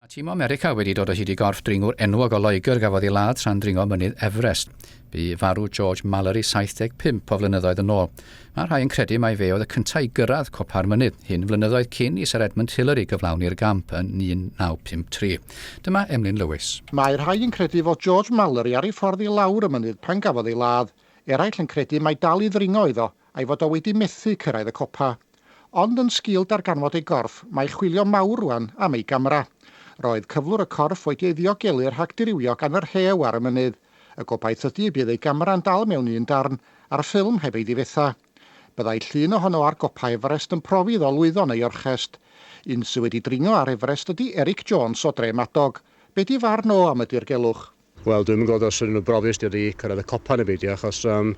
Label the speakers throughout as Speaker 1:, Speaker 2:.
Speaker 1: Mae tîm o America wedi dod o hyd i gorff dringwr enwog o Loegr gafodd ei ladd tra'n dringo mynydd Everest. Bu farw George Mallory 75 o flynyddoedd yn ôl. Mae rhai yn credu mai fe oedd y cyntaf i gyrraedd copa'r mynydd hyn flynyddoedd cyn i Sir Edmund Hillary gyflawni'r gamp yn 1953. Dyma Emlyn Lewis. Mae rhai yn credu fod George Mallory ar ei ffordd i lawr y mynydd pan gafodd ei ladd. Eraill yn credu mai dal i ddringo iddo a'i fod o wedi methu cyrraedd y copa. Ond yn sgil darganfod ei gorff, mae chwilio mawr rwan am ei gamera. Roedd cyflwr y corff wedi ei ddiogelu rhag dirywio gan y rhew ar y mynydd. Y gobaith ydy y bydd ei gamera yn dal mewn un darn a'r ffilm heb ei ddifetha. Byddai llun ohono ar gopa Everest yn profi iddo lwyddo neu orchest. Un sy wedi dringo ar Everest ydy Eric Jones o Dre Madog. Be di farn o am y dirgelwch? Wel, dwi'm yn gweld os ydyn nhw'n brofus neu wedi cyrraedd y copa neu beidio, achos um,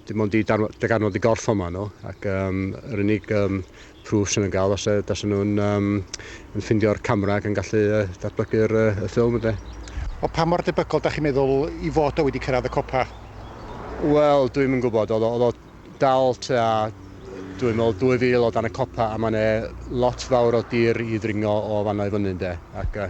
Speaker 1: dim ond i darn- darganfod y gorff yma nhw, ac um, yr unig um, proof sy'n yn gael os e- os ydyn nhw'n um, yn ffindio'r camera ac yn gallu uh, datblygu'r uh, y ffilm ydy. Wel, pa mor debygol da chi'n meddwl i fod o wedi cyrraedd y copa? Wel, dwi'm yn gwybod, oedd o- oedd o dal tua, dwi'n meddwl, 2000 o dan y copa, a mae'n e lot fawr o dir i ddringo o fanna i fyny, ynde, ac uh,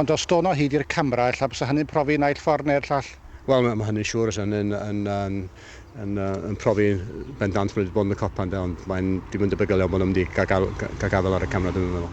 Speaker 1: Ond os dôn o hyd i'r camera, ella bysa hynny'n profi naill ffordd neu'r llall? Wel, mae mae hynny'n siŵr, os yn yn yn yn yn yy yn profi bendant bod nhw wedi bod yn y copa ynde, ond mae'n dim yn debygol iawn bod nhw'n mynd i gael gael ga- gael gafael ar y camera dwi'm yn meddwl.